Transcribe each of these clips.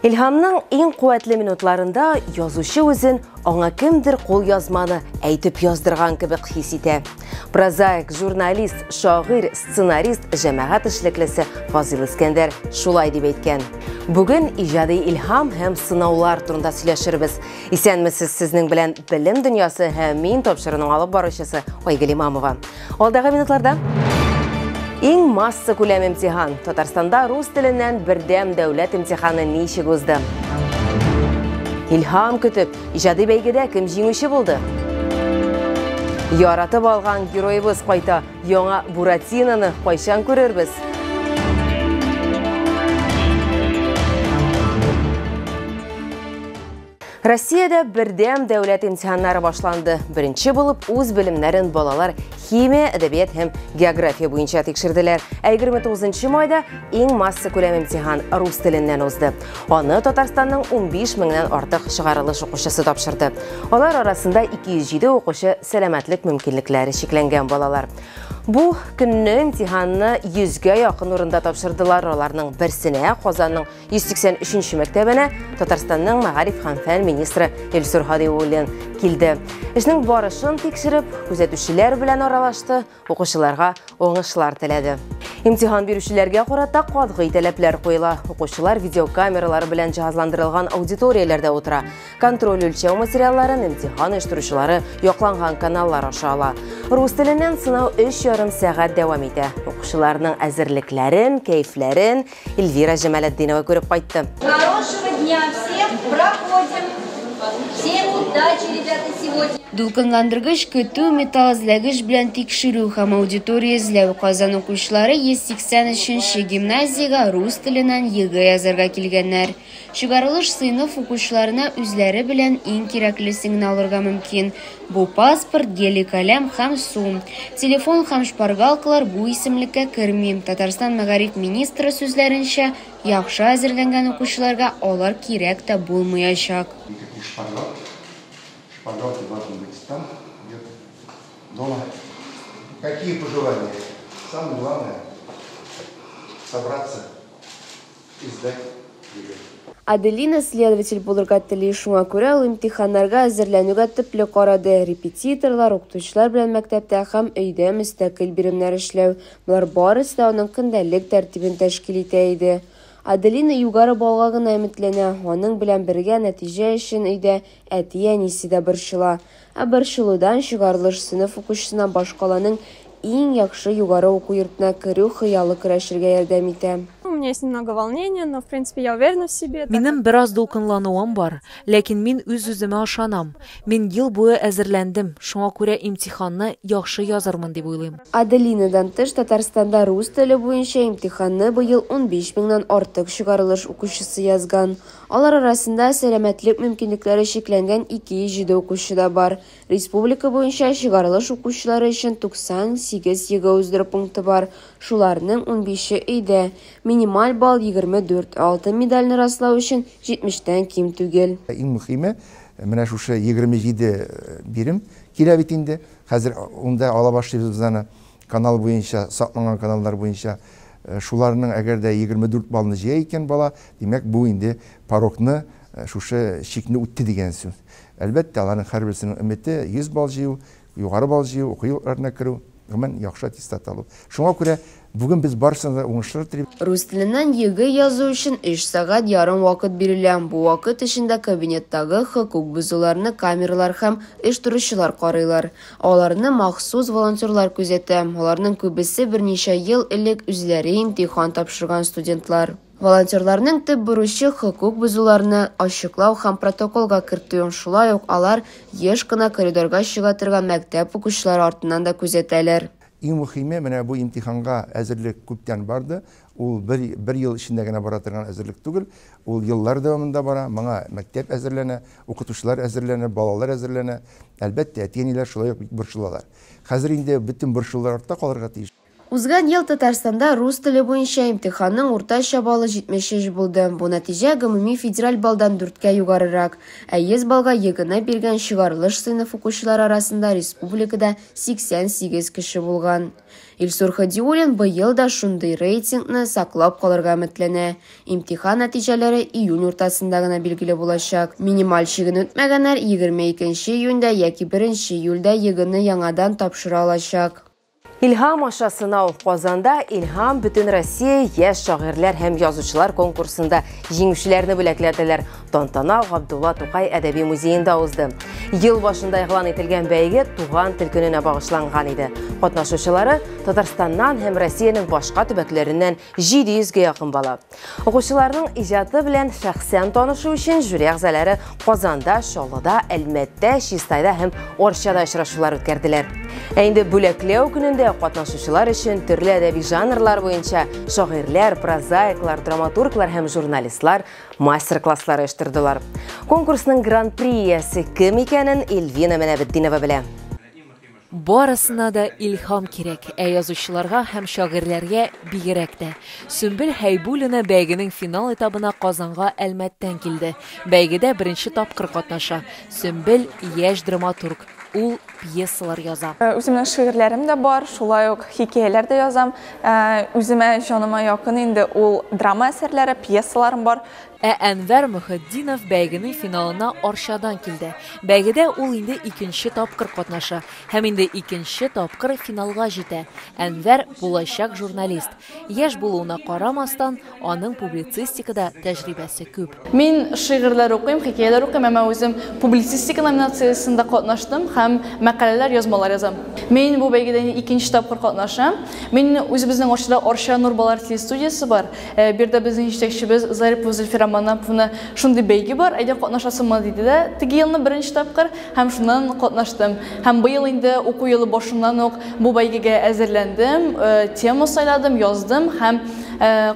Илһамның иң куәтле минутларында язучы үзен аңа кемдер кул язманы әйтеп яздырган кебек хис итә. Прозаик, журналист, шагыйрь, сценарист, җәмәгать эшлеклесе Фазил Искәндәр шулай дип әйткән. Бүген иҗади илһам һәм сынаулар турында сөйләшербез. Исәнмесез, сезнең белән Белем дөньясы һәм мин тапшыруның алып баручысы Айгөл Имамова. Алдагы минутларда Иң масса күләм имтихан. Татарстанда рус теленнән бердәм дәүләт имтиханы ничек узды? Илһам көтеп, иҗади бәйгедә кем җиңүче булды? Яратып алган героебыз кайта, яңа Буратиноны кайчан күрербез? Россиядә бердәм дәүләт имтиханнары башланды. Беренче булып үз белемнәрен балалар химия, әдәбият һәм география буенча тикшерделәр. Ә 29 майда иң масса күләм имтихан рус теленнән узды. Аны Татарстанның 15 меңнән артык чыгарылыш укучысы тапшырды. Алар арасында 207 укучы сәламәтлек мөмкинлекләре чикләнгән балалар. Бу көнне имтиханны 100 гә якын урында тапшырдылар. Аларның берсенә Казанның 183 мәктәбенә Татарстанның мәгариф һәм фән министры Илсур Һадиуллин килде. Эшнең барышын тикшереп, күзәтүчеләр белән аралашты, укучыларга уңышлар теләде. Имтихан бирүчеләргә карата катгый таләпләр куела. Укучылар видеокамералар белән җиһазландырылган аудиторияләрдә утыра. Контроль үлчәү материалларын имтихан оештыручылары якланган каналлар аша ала. Рус теленнән сынау 3 ярым сәгать дәвам итә. Укучыларның әзерлекләрен, кәефләрен Эльвира Җамалетдинова күреп кайтты. Хорошего дня всем, проходим. Всем удачи, ребята, сегодня. Дулкынландыргыч көтү, металл эзләгеч белән тикшерү һәм аудитория эзләү Казан укучылары 183 нче гимназиягә рус теленнән ЕГЭ язарга килгәннәр. Чыгарылыш сыйныф укучыларына үзләре белән иң кирәклесеңне алырга мөмкин. Бу паспорт, гели каләм һәм су. Телефон һәм шпаргалкалар бу исемлеккә керми. Татарстан мәгариф министры сүзләренчә, яхшы әзерләнгән укучыларга алар кирәк тә булмаячак. Никаких шпаргалок. Шпаргалки должны быть там, где то дома. Какие пожелания? Самое главное, собраться эзләп йөри. Аделина следователь булырга тели, шуңа күрә ул имтиханнарга әзерләнүгә төпле карады, репетиторлар, укытучылар белән мәктәптә һәм өйдә мөстәкыйль биремнәр эшләү, болар барысы да аның көндәлек тәртибен тәшкил итә иде. Аделина югары баллга гына өметләнә, аның белән бергә нәтиҗә өчен өйдә Әти-әнисе дә борчыла. Ә борчылудан чыгарылыш сыйныф укучысына башкаланың иң яхшы югары уку йортына керү хыялы көрәшергә ярдәм итә. У меня есть немного волнения, но в принципе я уверена в себе, так как. Минем бераз дулкынлануым бар, ләкин мин үз-үземә ышанам. Мин ел буе әзерләндем, шуңа күрә имтиханны яхшы язырмын дип уйлыйм. Аделинадан тыш Татарстанда рус теле буенча имтиханны быел унбиш меңнән артык чыгарылыш укучысы язган. Алар арасында сәламәтлек мөмкинлекләре чикләнгән 207 укучы да бар. Республика буенча чыгарылыш укучылары өчен 98 ЕГЭ уздыру пункты бар, шуларның унбише, өйдә. Минималь балл, 24, ә алтын медальне раслау өчен 70 тән ким түгел. Ә иң мөхиме, менә шушы 27 бирем килә бит инде, хәзер унда ала башлыйбыз без аны. Канал буенча, сакланган каналлар буенча шуларның әгәр дә егерме дүрт баллны җыя икән бала, димәк, бу инде порогны, шушы чикне үтте дигән сүз. Әлбәттә, аларның һәрберсенең өмете, йөз балл җыю, югары балл җыю, уку йортларына керү, гомумән, яхшы аттестат алу. Шуңа күрә бүген без барысына да уңышлар телибез. Рус теленнән ЕГЭ язу өчен өч сәгать ярым вакыт бирелә. Бу вакыт эчендә кабинеттагы хокук бозуларны камералар һәм оештыручылар карыйлар. Аларны махсус волонтерлар күзәтә, аларның күбесе берничә ел элек үзләре имтихан тапшырган студентлар. Волонтерларның төп бурычы, хокук бозуларны ачыклау һәм протоколга кертү, шулай ук алар еш кына коридорга чыга торган мәктәп укучылары артыннан да күзәтәләр. Иң мөхиме, менә бу имтиханга әзерлек күптән барды, Ул бер бер ел эчендә генә бара торган әзерлек түгел, ул еллар дәвамында бара, моңа мәктәп әзерләнә, укытучылар әзерләнә, балалар әзерләнә. Әлбәттә, әти-әниләр шулай ук бик борчылалар. Хәзер инде бөтен борчулар артта калырга тиеш. Узган ел Татарстанда рус теле буенча имтиханның уртача баллы 73 булды, бу нәтиҗә гомуми федераль баллдан дүрткә югарырак, ә 100 баллга ЕГЭны биргән чыгарылыш сыйныф укучылары арасында республикада 88 кеше булган. Илсур Хадиуллин быел да шундый рейтингны саклап калырга өметләнә. Имтихан нәтиҗәләре июнь уртасында гына билгеле булачак. Минималь чиген үтмәгәннәр 22 нче июньдә яки 1 нче июльдә ЕГЭны яңадан тапшыра алачак. Илһам аша сынау Казанда Илһам Бөтенроссия яшь шагыйрьләр һәм язучылар конкурсында җиңүчеләрне бүләкләделәр. Тантана Габдулла Тукай әдәби музеенда узды. Ел башында игълан ителгән бәйге туган тел көненә багышланган иде. Катнашучылары Татарстаннан һәм Россиянең башка төбәкләреннән 700 гә якын бала. Укучыларның иҗаты белән шәхсән танышу өчен жюри әгъзалары Казанда, Чаллыда, Әлмәттә, Чистайда һәм Орчада очрашулар үткәрделәр. Ә инде бүләкләү көнендә катнашучылар өчен төрле әдәби жанрлар буенча шагыйрьләр, прозаиклар, драматурглар һәм журналистлар Мастер-класслар оештырдылар. Конкурсның гран-при иясе кем икәнен Эльвина Менәбетдинова белә. Барысына да илһам кирәк, ә язучыларга һәм шагыйрьләргә бигрәк тә. Сөмбел Хәйбуллина бәйгенең финал этабына Казанга Әлмәттән килде. Бәйгедә беренче тапкыр катнаша. Сөмбел, яшь драматург. Ул пьесалар яза. Э, үземнең шигырьләрем дә бар, шулай ук хикәяләр дә язам. Э, үземә җаныма якын инде ул драма әсәрләре, пьесаларым бар. Ә Әнвәр Мөхетдинов бәйгенең финалына Арчадан килде. Бәйгедә ул инде икенче тапкыр катнаша һәм инде икенче тапкыр финалга җитә. Әнвәр булачак журналист. Яшь булуына карамастан, аның публицистикада тәҗрибәсе күп. Мин шигырьләр укыйм, хикәяләр укыйм, әмма үзем публицистика номинациясендә катнаштым һәм мәкаләләр, язмалар язам. Мин бу бәйгедә инде икенче тапкыр катнашам. Мин үзебезнең Арчада Арча Нур балалар телестудиясе бар. Бу йөрдә безнең җитәкчебез Зарипова Зөлфирә Манаповны шундый бәйге бар, әйдә катнашасыңмы диде дә, теге елны беренче тапкыр. Һәм шуннан катнаштым. Һәм быел инде уку елы башыннан ук бу бәйгегә әзерләндем, тема сайладым, яздым һәм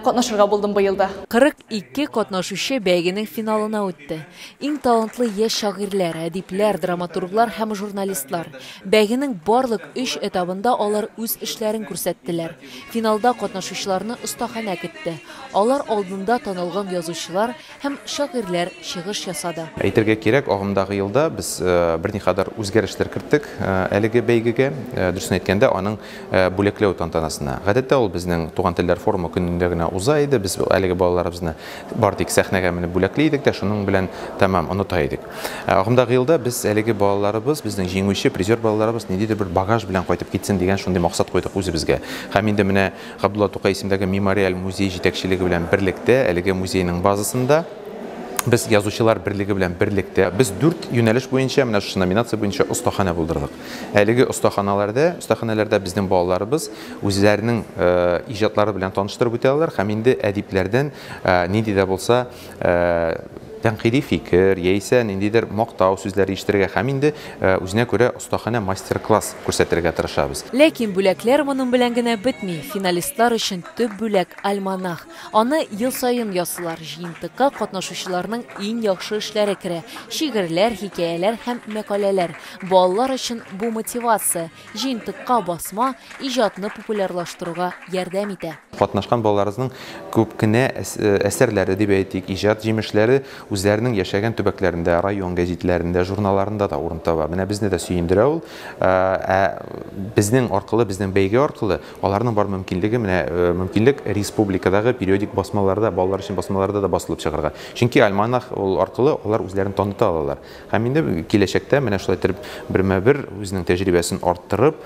катнашырга булдым быел да. 42 катнашучы бәйгенең финалына үтте. Иң талантлы яшь шагыйрьләр, әдипләр, драматурглар һәм журналистлар. Бәйгенең барлык өч этабында алар үз эшләрен күрсәттеләр. Финалда катнашучыларны остаханә көтте. Алар алдында танылган язучылар, Һәм шагыйрьләр чыгыш ясады. Әйтергә кирәк, агымдагы елда без берникадәр үзгәрешләр керттек әлеге бәйгегә, дөресен әйткәндә, аның бүләкләү тантанасына. Гадәттә, ул безнең Туган телләр форумы көнендә генә уза иде, без әлеге балаларыбызны бары тик сәхнәгә менеп бүләкли идек тә шуның белән тәмам оныта идек. Ә агымдагы елда без әлеге балаларыбыз, безнең җиңүче, призер балаларыбыз ниндидер бер багаж белән кайтып китсен дигән шундый максат куйдык үзебезгә. Һәм инде менә Габдулла Тукай исемендәге Мемориаль музей җитәкчелеге белән берлектә, әлеге музейның базасында без Язучылар берлеге белән берлектә, без дүрт юнәлеш буенча, менә шушы номинация буенча остаханә булдырдык. Әлеге остаханаләрдә, остаханәләрдә безнең балаларыбыз үзләренең иҗатлары белән таныштырып үтә алалар һәм инде әдипләрдән нинди дә булса тәнкыйди фикер яисә ниндидер мактау сүзләре ишетергә һәм инде үзенә күрә остаханә мастер-класс күрсәтергә тырышабыз. Ләкин бүләкләр моның белән генә бетми. Финалистлар өчен төп бүләк, альманах. Аны ел саен ясыйлар. Җыентыкка катнашучыларның иң яхшы эшләре керә, шигырьләр, хикәяләр һәм мәкаләләр. Балалар өчен бу мотивация. Җыентыкка басма иҗатны популярлаштыруга ярдәм итә. Катнашкан балаларыбызның күп кенә әсәрләре, дип әйтик, иҗат җимешләре үзләренең яшәгән төбәкләрендә, район гәзитләрендә, журналларында да урын таба. Менә безне дә сөендерә ул. Ә безнең аркылы, безнең бәйге аркылы аларның бар мөмкинлеге, менә мөмкинлек республикадагы периодик басмаларда, балалар өчен басмаларда да басылып чыгарга. Чөнки альманах ул аркылы алар үзләрен таныта алалар. Һәм инде киләчәктә менә шулай итеп бермә-бер үзенең тәҗрибәсен арттырып,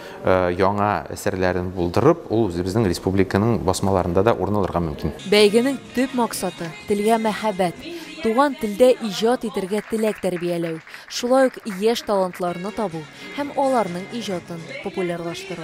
яңа әсәрләрен булдырып, ул үзебезнең республиканың басмаларында да урын алырга мөмкин. Бәйгенең төп максаты, телгә мәхәббәт, туган телдә иҗат итәргә теләк тәрбияләү, шулай ук яшь талантларны табу һәм аларның иҗатын популярлаштыру.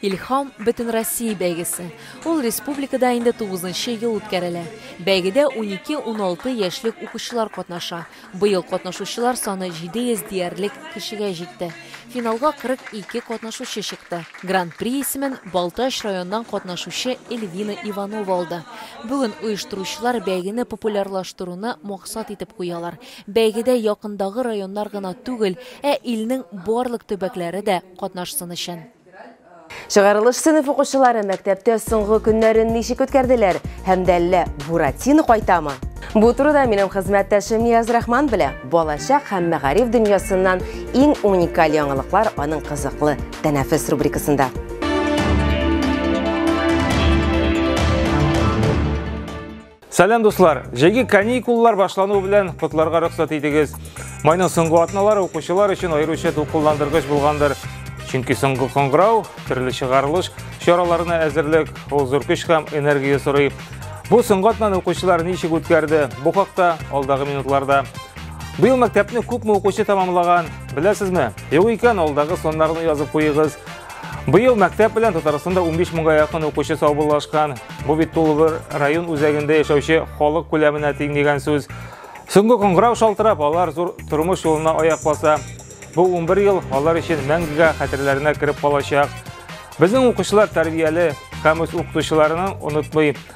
Илһам бөтенроссия бәйгесе, Ул республикада инде тугызынчы ел үткәрелә. Бәйгедә унике-уналты яшьлек укучылар катнаша. Быел катнашучылар саны 700 диярлек кешегә җитте. Финалга 42 катнашучы чыкты. Гран-при исемен Балтач районыннан катнашучы Эльвина Иванова алды. Бүген оештыручылар бәйгене популярлаштыруны максат итеп куялар. Бәйгедә якындагы районнар гына түгел, ә илнең барлык төбәкләре дә катнашсын өчен. Чыгарылыш сыйныф укучылары мәктәптә соңгы көннәрен ничек үткәрделәр һәм дә әллә Буратино кайтамы? Бу турыда минем хезмәттәшем Нияз Рахман белә. Балачак һәм мәгариф дөньясыннан иң уникаль яңалыклар аның кызыклы тәнәфес рубрикасында. Сәлам дуслар! Җәйге каникуллар башлануы белән котларга рөхсәт итегез. Майның соңгы атналары укучылар өчен аеруча дулкынландыргыч булгандыр. Чөнки соңгы кыңгырау, төрле чыгарылыш чараларына әзерлек, ул зур көч һәм энергия сорый. Бу соңгы атнаны укучылар ничек үткәрде? Бу хакта алдагы минутларда. Быел мәктәпне күпме укучы тәмамлаган? Беләсезме? Юк икән, алдагы саннарны язып куегыз. Быел мәктәп белән Татарстанда 15 мыңга якын укучы саубуллашкан. Бу бит тулыбыр район үзәгендә яшәүче халык күләменә тиң дигән сүз. Соңгы коңгырау шалтырап, алар зур тормыш юлына аяк баса. Бу 11 ел алар өчен мәңгегә хәтерләренә кереп калачак. Безнең укучылар тәрбияле, һәм үз укытучыларының онытмый.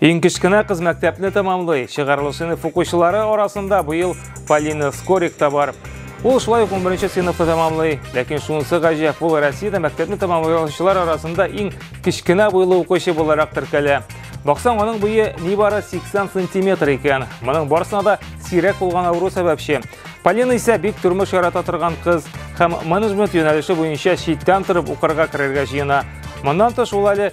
Иң кечкенә кыз мәктәпне тәмамлый. Чыгарылыш сыйныф укучылары арасында быел Полина Скорик та бар. Ул шулай ук 11 сыйныфны тәмамлый. Ләкин шунысы гаҗәп, ул Россиядә мәктәпне тәмамлаучылар арасында иң кечкенә буйлы укучы буларак теркәлә. Баксаң, аның буе нибары 80 сантиметр икән. Моның барсына да сирәк булган авыру сәбәпче. Полина исә бик тормыш ярата торган кыз һәм менеджмент юнәлеше буенча читтән торып укырга керергә җыена. Моннан тыш ул әле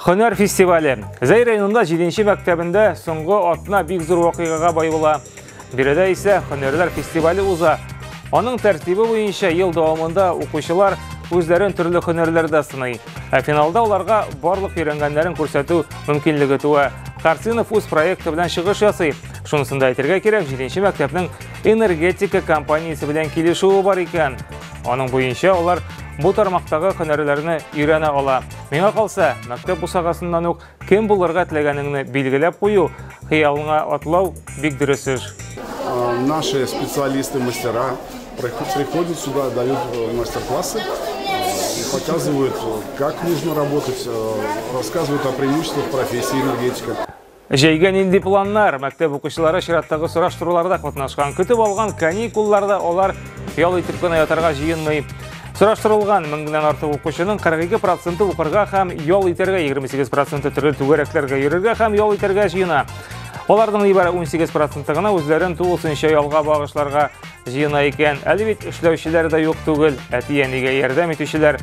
Хөнәр фестивале. Зәй районында 7 мәктәбендә соңгы атна бик зур вакыйгага бай була. Биредә исә хөнәрләр фестивале уза. Аның тәртибе буенча ел дәвамында укучылар үзләрен төрле хөнәрләрдә сыный. Ә финалда аларга барлык өйрәнгәннәрен күрсәтү мөмкинлеге туа. Карцинов үз проекты белән чыгыш ясый. Шунысын да әйтергә кирәк, 7 мәктәпнең энергетика компаниясе белән килешүе бар икән. Аның буенча алар бу тармактагы һөнәрләрне өйрәнә ала. Миңа калса, мәктәп бусагасыннан ук кем булырга теләгәнеңне билгеләп кую, хыялыңа атлау бик дөрес эш. Наши специалисты, мастера приходят сюда, дают э, мастер-классы э, и показывают, э, как нужно работать, рассказывают о преимуществах профессии энергетика. Җәйгә нинди планнар? Мәктәп укучылары чираттагы сораштыруларда катнашкан. Көтеп алган каникулларда алар ял итеп кенә ятарга җыенмый. Сораштырылган меңнән артык укучының 42 проценты укырга һәм ял итәргә, 28 проценты төрле түгәрәкләргә йөрергә һәм ял итәргә җыена. Аларның нибары 18 проценты гына үзләрен тулысынча ялга багышларга җыена икән. Әле бит эшләүчеләр дә юк түгел, әти-әнигә ярдәм итүчеләр.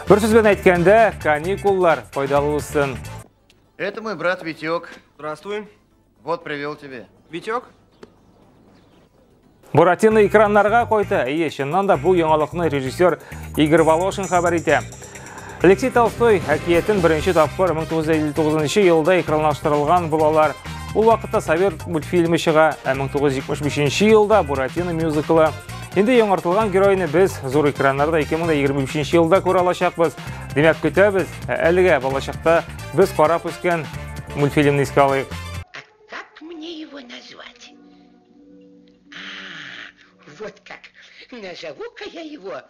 Бер сүз белән әйткәндә, каникуллар файдалы үссен. Это мой брат Витек. Здравствуй. Вот привел тебе. Витек? Буратино экраннарга койды. Ие, чыннан да бу яңалыкны режиссер Игорь Волошин хәбәр итә. Алексей Толстой әкиятен беренче тапкыр 1959 елда экранлаштырылган булалар. Ул вакытта Совет мультфильмы чыга, ә 1975 елда Буратино мюзиклы Инде яңартылган геройны без зур экраннарда 2023 елда күрә алачакбыз. Димәк, көтәбез. Ә әлегә балачакта без карап үскән мультфильмны искә алыйк. Как мне его назвать? А, вот как. Назову-ка я его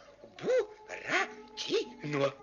Буратино.